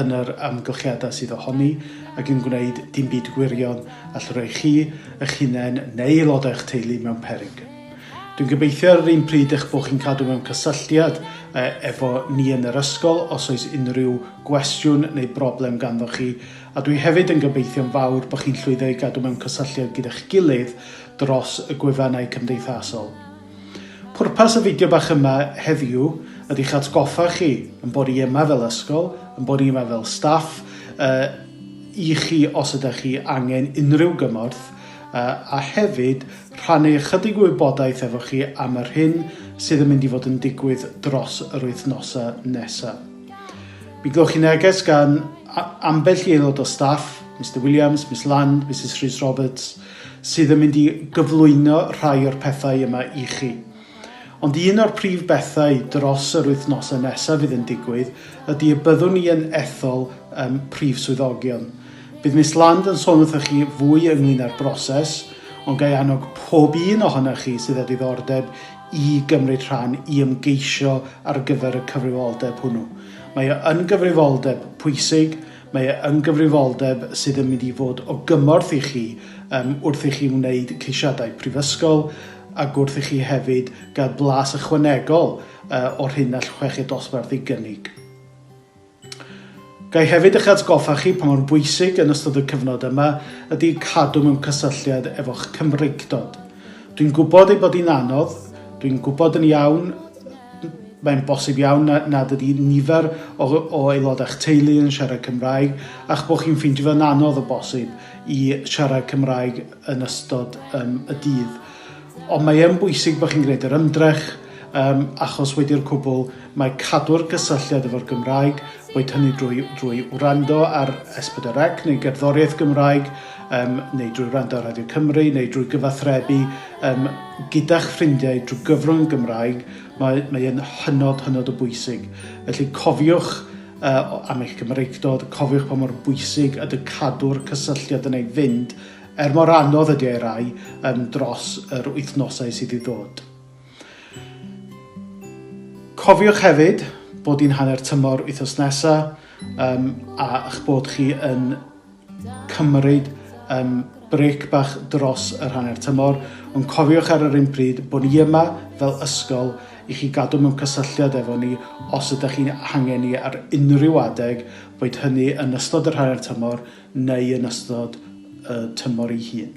yn yr amgylchiadau sydd ohoni ac yn gwneud dim byd gwirion all roi chi, eich hunain neu aelodau eich teulu mewn peryg. Dwi'n gobeithio ar yr un pryd eich bod chi'n cadw mewn cysylltiad efo ni yn yr ysgol os oes unrhyw gwestiwn neu broblem ganddo chi, a dwi hefyd yn gobeithio'n fawr bod chi'n llwyddo i gadw mewn cysylltiad gyda'ch gilydd dros y gwefannau cymdeithasol. Pwrpas y fideo bach yma heddiw ydy eich atgoffa chi yn bod i yma fel ysgol, yn bod i yma fel staff, uh, i chi os ydych chi angen unrhyw gymorth, uh, a hefyd rhannu ychydig o wybodaeth efo chi am yr hyn sydd yn mynd i fod yn digwydd dros yr wythnosau nesaf. Mi glywch chi neges gan ambell i aelod o staff, Mr Williams, Miss Land, Mrs Rhys Roberts, sydd yn mynd i gyflwyno rhai o'r pethau yma i chi. Ond un o'r prif bethau dros yr wythnosau nesaf fydd yn digwydd ydy y byddwn ni yn ethol um, prif swyddogion. Bydd Miss Land yn sôn wrthych chi fwy ynglyn â'r broses, ond gai annog pob un ohonoch chi sydd â diddordeb i gymryd rhan i ymgeisio ar gyfer y cyfrifoldeb hwnnw. Mae o yn gyfrifoldeb pwysig, Mae e yn gyfrifoldeb sydd yn mynd i fod o gymorth i chi yym wrth i chi wneud ceisiadau prifysgol ac wrth i chi hefyd gael blas ychwanegol yy o'r hyn all chweched dosbarth ei gynnig. Gai hefyd eich atgoffa chi pa mor bwysig yn ystod y cyfnod yma ydy cadw mewn cysylltiad efo'ch Cymreictod. Dwi'n gwybod ei bod hi'n anodd, dwi'n gwybod yn iawn Mae'n bosib iawn nad ydy nifer o aelodau'ch teulu yn siarad Cymraeg a'ch bod chi'n ffeindio fo'n anodd o bosib i siarad Cymraeg yn ystod um, y dydd. Ond mae yn bwysig bod chi'n gwneud yr ymdrech, um, achos wedi'r cwbl mae cadw'r gysylltiad efo'r Gymraeg, boed hynny drwy, drwy wrando ar S4C neu gerddoriaeth Gymraeg, um, neu drwy wrando ar Radio Cymru, neu drwy gyfathrebu Yym, gyda'ch ffrindiau drwy gyfrwng y Gymraeg, mae, mae yn hynod, hynod o bwysig. Felly cofiwch uh, am eich Cymreictod, cofiwch pa mor bwysig ydy cadw'r cysylltiad yn ei fynd, er mor anodd ydy ei rai, um, dros yr wythnosau sydd i ddod. Cofiwch hefyd bod i'n hanner tymor wythnos nesaf um, a'ch bod chi yn cymryd um, brec bach dros yr hanner tymor, ond cofiwch ar yr un pryd bod ni yma fel ysgol i chi gadw mewn cysylltiad efo ni os ydych chi'n hangen ni ar unrhyw adeg, boed hynny yn ystod yr hanner tymor neu yn ystod y tymor ei hun.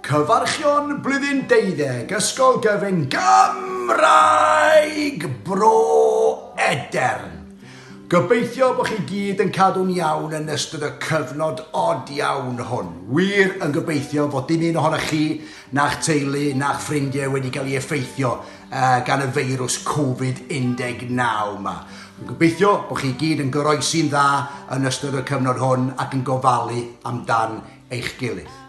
Cyfarchion Blwyddyn Deuddeg Ysgol Gyfun Gymraeg Bro Edern! Gobeithio bod chi gyd yn cadw'n iawn yn ystod y cyfnod od iawn hwn. Wir yn gobeithio fod dim un ohonoch chi, na'ch teulu, na'ch ffrindiau wedi cael ei effeithio uh, gan y feirws Covid-19 yma. Yn gobeithio bod chi gyd yn goroesi'n dda yn ystod y cyfnod hwn ac yn gofalu amdan eich gilydd.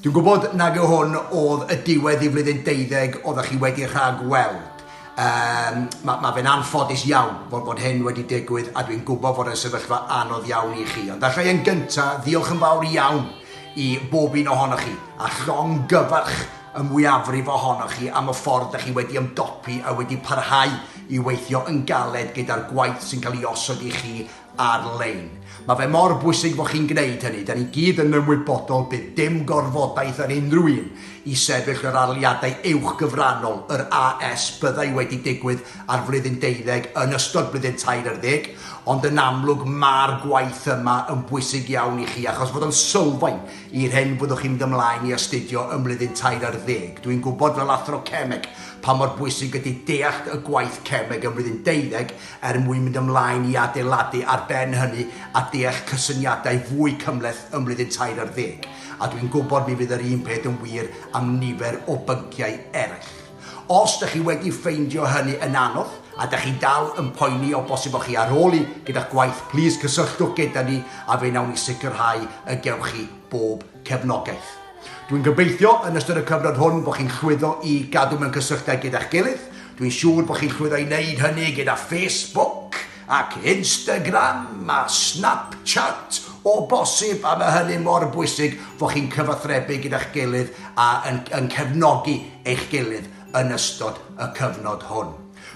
Dwi'n gwybod nag yw hwn oedd y diwedd i flwyddyn deuddeg oeddech chi wedi rhag weld. Um, mae ma fe'n anffodus iawn fod, bod hyn wedi digwydd a dwi'n gwybod fod yn sefyllfa anodd iawn i chi. Ond allai yn gyntaf ddiolch yn fawr iawn i bob un ohonoch chi a llong gyfarch y mwyafrif ohonoch chi am y ffordd da chi wedi ymdopi a wedi parhau i weithio yn galed gyda'r gwaith sy'n cael ei osod i chi ar-lein. Mae fe mor bwysig bod chi'n gwneud hynny, da ni gyd yn ymwybodol bydd dim gorfodaeth ar unrhyw un i sefyll yr arliadau uwchgyfranol, yr AS, byddai wedi digwydd ar flwyddyn deuddeg yn ystod blwyddyn tair ar ddeg, ond yn amlwg ma'r gwaith yma yn bwysig iawn i chi achos fod o'n sylfaen i'r hyn fyddwch chi'n mynd ymlaen i astudio ym mlwyddyn tair ar ddeg. Dwi'n gwybod fel Athro Cemeg pa mor bwysig ydy deallt y gwaith Cemeg ym mlwyddyn deuddeg er mwyn mynd ymlaen i adeiladu ar ben hynny a deall cysyniadau fwy cymhleth ym Mlwyddyn Tair ar Ddeg, a dwi'n gwybod mi fydd yr un peth yn wir am nifer o bynciau eraill. Os dych chi wedi ffeindio hynny yn anodd, a dych chi dal yn poeni o bosib o'ch chi ar ôl un gyda'ch gwaith, plîs cysylltwch gyda ni a fe wnawn ni sicrhau y gewch chi bob cefnogaeth. Dwi'n gobeithio yn ystod y cyfnod hwn bod chi'n llwyddo i gadw mewn cysylltiad gyda'ch gilydd. Dwi'n siŵr bod chi'n llwyddo i wneud hynny gyda Facebook ac Instagram a Snapchat o bosib a mae hynny mor bwysig fod chi'n cyfathrebu gyda'ch gilydd a yn, yn cefnogi eich gilydd yn ystod y cyfnod hwn.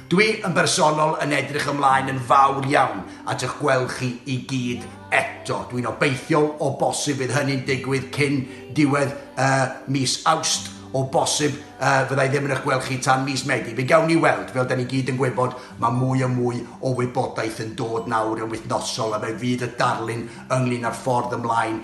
Dwi yn bersonol yn edrych ymlaen yn fawr iawn at eich gweld chi i gyd eto. Dwi'n obeithiol o bosib fydd hynny'n digwydd cyn diwedd y mis Awst, o bosib y fydda i ddim yn eich gweld chi tan mis Medi. Fe gawn ni weld. Fel 'da ni gyd yn gwybod, mae mwy a mwy o wybodaeth yn dod nawr yn wythnosol a fe fydd y darlun ynglŷn â'r ffordd ymlaen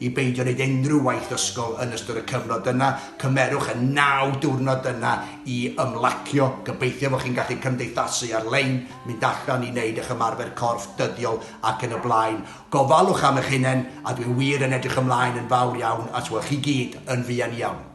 I beidio wneud unrhyw waith ysgol yn ystod y cyfnod yna, cymerwch y naw diwrnod yna i ymlacio. Gobeithio fod chi'n gallu cymdeithasu ar-lein, mynd allan i wneud eich ymarfer corff dyddiol ac yn y blaen. Gofalwch am eich hunain a dwi wir yn edrych ymlaen yn fawr iawn at weld chi gyd yn fuan iawn.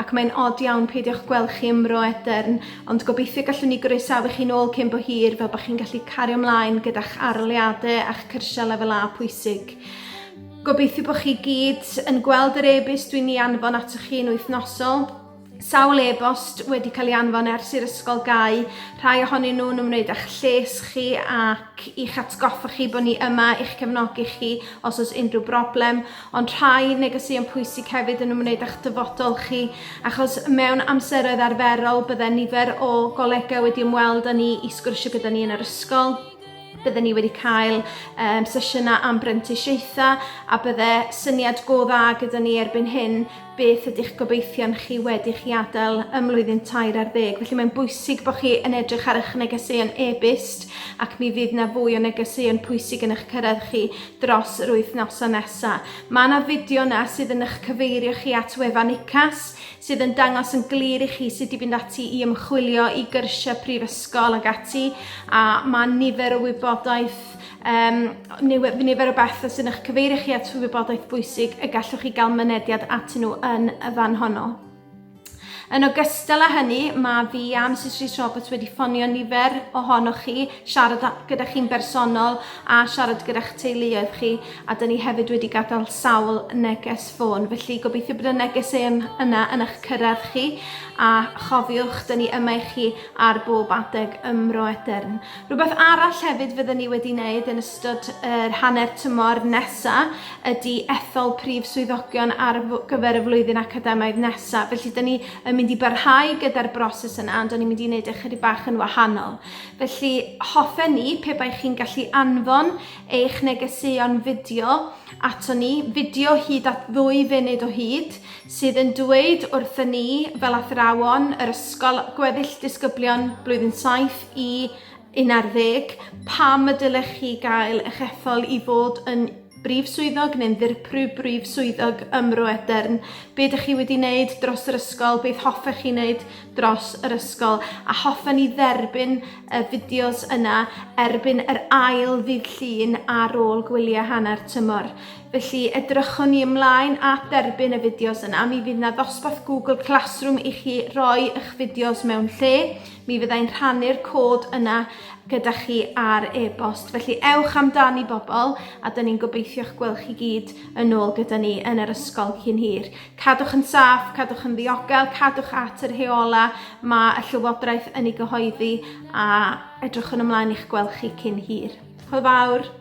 Ac mae'n od iawn peidiwch gweld chi ym Mro Edern, ond gobeithio gallwn ni groesawu chi'n ôl cyn bo hir fel bod chi'n gallu cario mlaen gyda'ch aroliade a'ch cyrsiau lefel A pwysig. Gobeithio bod chi gyd yn gweld yr e-byst dwi'n ei anfon atoch chi yn wythnosol. Sawl e-bost wedi cael ei anfon ers i'r ysgol gau, rhai ohonyn nhw'n ymwneud â'ch lles chi ac i'ch atgoffa chi bod ni yma i'ch cefnogi chi os oes unrhyw broblem, Ond rhai negeseuon pwysig hefyd yn ymwneud â'ch dyfodol chi, achos mewn amseroedd arferol bydde nifer o golegau wedi ymweld â ni i sgwrsio gyda ni yn yr ysgol, bydde ni wedi cael um, sesiynau am brentisiaethau a bydde syniad go dda gyda ni erbyn hyn beth ydych gobeithion chi wedi chi adael ym mlwyddyn tair ar ddeg. Felly mae'n bwysig bod chi yn edrych ar eich negeseuon e-byst ac mi fydd na fwy o negeseuon pwysig yn eich cyrraedd chi dros yr wythnosau nesaf. Mae yna fideo yna sydd yn eich cyfeirio chi at wefan UCAS sydd yn dangos yn glir i chi sut i fynd ati i ymchwilio i gyrsiau prifysgol ac ati a mae nifer o wybodaeth um, nifer o bethau sy'n eich cyfeirio chi at wybodaeth bwysig y gallwch chi gael mynediad at nhw yn y fan honno. Yn ogystal â hynny, mae fi a Mrs Rhys Roberts wedi ffonio nifer ohonoch chi, siarad gyda chi'n bersonol a siarad gyda'ch teuluoedd chi, a dyn ni hefyd wedi gadael sawl neges ffôn. Felly gobeithio bod y neges yn yna yn eich cyrraedd chi, a chofiwch, dyn ni yma i chi ar bob adeg ymro edern. Rhywbeth arall hefyd fydden ni wedi wneud yn ystod yr hanner tymor nesa ydy ethol prif swyddogion ar gyfer y flwyddyn academaidd nesa. Felly, da ni yn mynd i barhau gyda'r broses yna, ond o'n i'n mynd i wneud e chydig bach yn wahanol. Felly, hoffen ni, pe bai chi'n gallu anfon eich negeseuon fideo ato ni, fideo hyd at ddwy funud o hyd, sydd yn dweud wrthyn ni fel athrawon yr ysgol gweddill disgyblion blwyddyn 7 i 11 pam y dylech chi gael eich ethol i fod yn brif swyddog neu'n ddirprwy brif swyddog ym Mro Edern. Be ydych chi wedi wneud dros yr ysgol? Beth hoffech chi wneud dros yr ysgol? A hoffen ni dderbyn y fideos yna erbyn yr ail ddydd Llun ar ôl gwyliau hanner tymor. Felly, edrychwn ni ymlaen at dderbyn y fideos yna. Mi fydd yna ddosbarth Google Classroom i chi roi eich fideos mewn lle. Mi fyddai'n rhannu'r cod yna gyda chi ar e-bost. Felly ewch amdani bobl a dyn ni'n gobeithio'ch gweld chi gyd yn ôl gyda ni yn yr ysgol cyn hir. Cadwch yn saff, cadwch yn ddiogel, cadwch at yr heola mae y Llywodraeth yn ei gyhoeddi a edrychwn ymlaen i'ch gweld chi cyn hir. Hwyl fawr!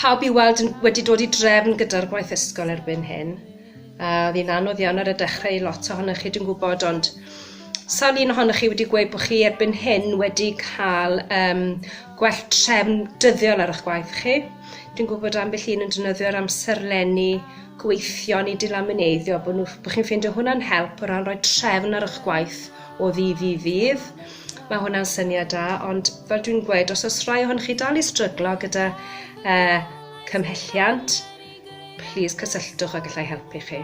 Pawb i'w weld yn wedi dod i drefn gyda'r gwaith ysgol erbyn hyn. A, oedd hi'n anodd iawn ar y dechrau i lot ohonoch chi, dwi'n gwybod, ond sawl un ohonoch chi wedi gweud bod chi erbyn hyn wedi cael um, gwell trefn dyddiol ar eich gwaith chi? Dwi'n gwybod ambell un yn defnyddio'r amserlenni gweithion i dilamineiddio, bod, nhw, bod chi'n ffeindio hwnna'n help o ran rhoi trefn ar eich gwaith o ddydd i ddydd. Mae hwnna'n syniad da, ond fel dwi'n gweud, os oes rhai ohonych chi dal i stryglo gyda uh, cymhelliant, please cysylltwch a gallai helpu chi.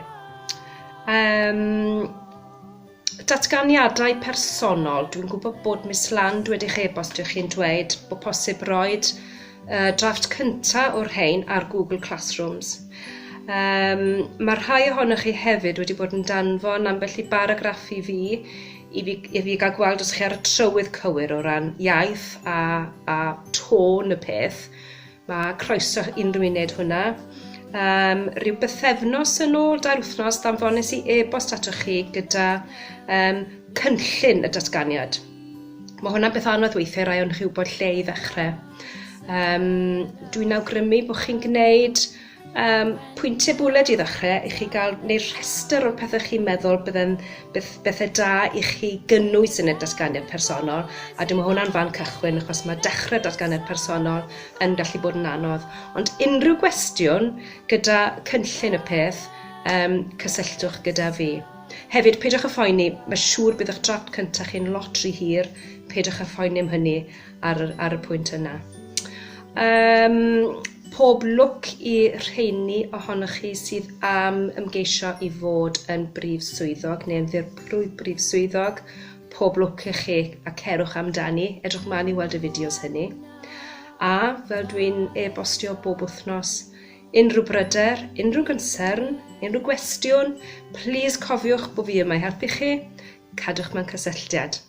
Um, datganiadau personol. Dwi'n gwybod bod Miss Land wedi chi e-bostio chi'n dweud bod posib roed uh, drafft cyntaf o'r rhain ar Google Classrooms. Um, mae rhai ohonych chi hefyd wedi bod yn danfon ambell i baragraff i fi i fi i fi ga'l gweld os chi ar y trywydd cywir o ran iaith a a tôn y peth, ma' croeso unrhyw un neud hwnna. Yym ryw bythefnos yn ôl, dair wythnos, ddanfones i e-bost atoch chi gyda yym cynllun y datganiad. Ma' hwnna'n beth anodd weithie rai o'ch chi wbod lle i ddechre. Yym dwi'n awgrymu bo' chi'n gneud Yym, pwyntiau bwled i ddechrau, i chi gael, neu'r rhestr o'r pethau chi'n meddwl bydde'n beth, bethau da i chi gynnwys yn y datganiad personol, a dyma hwnna'n fan cychwyn, achos mae dechrau datganiad personol yn gallu bod yn anodd. Ond unrhyw gwestiwn gyda cynllun y peth, um, cysylltwch gyda fi. Hefyd, peidiwch â phoeni, mae siŵr bydd eich drafft cyntaf chi'n lot rhy hir, peidiwch â phoeni am hynny. ar, ar y pwynt yna. Um, pob lwc i rheini ohonoch chi sydd am ymgeisio i fod yn brif swyddog neu yn ddirprwy brif swyddog. Pob lwc i chi a cerwch amdani. Edrych mlaen i weld y fideos hynny. A fel dwi'n e-bostio bob wythnos, unrhyw bryder, unrhyw gynsern, unrhyw gwestiwn, plis cofiwch bod fi yma i helpu chi, cadwch mewn cysylltiad.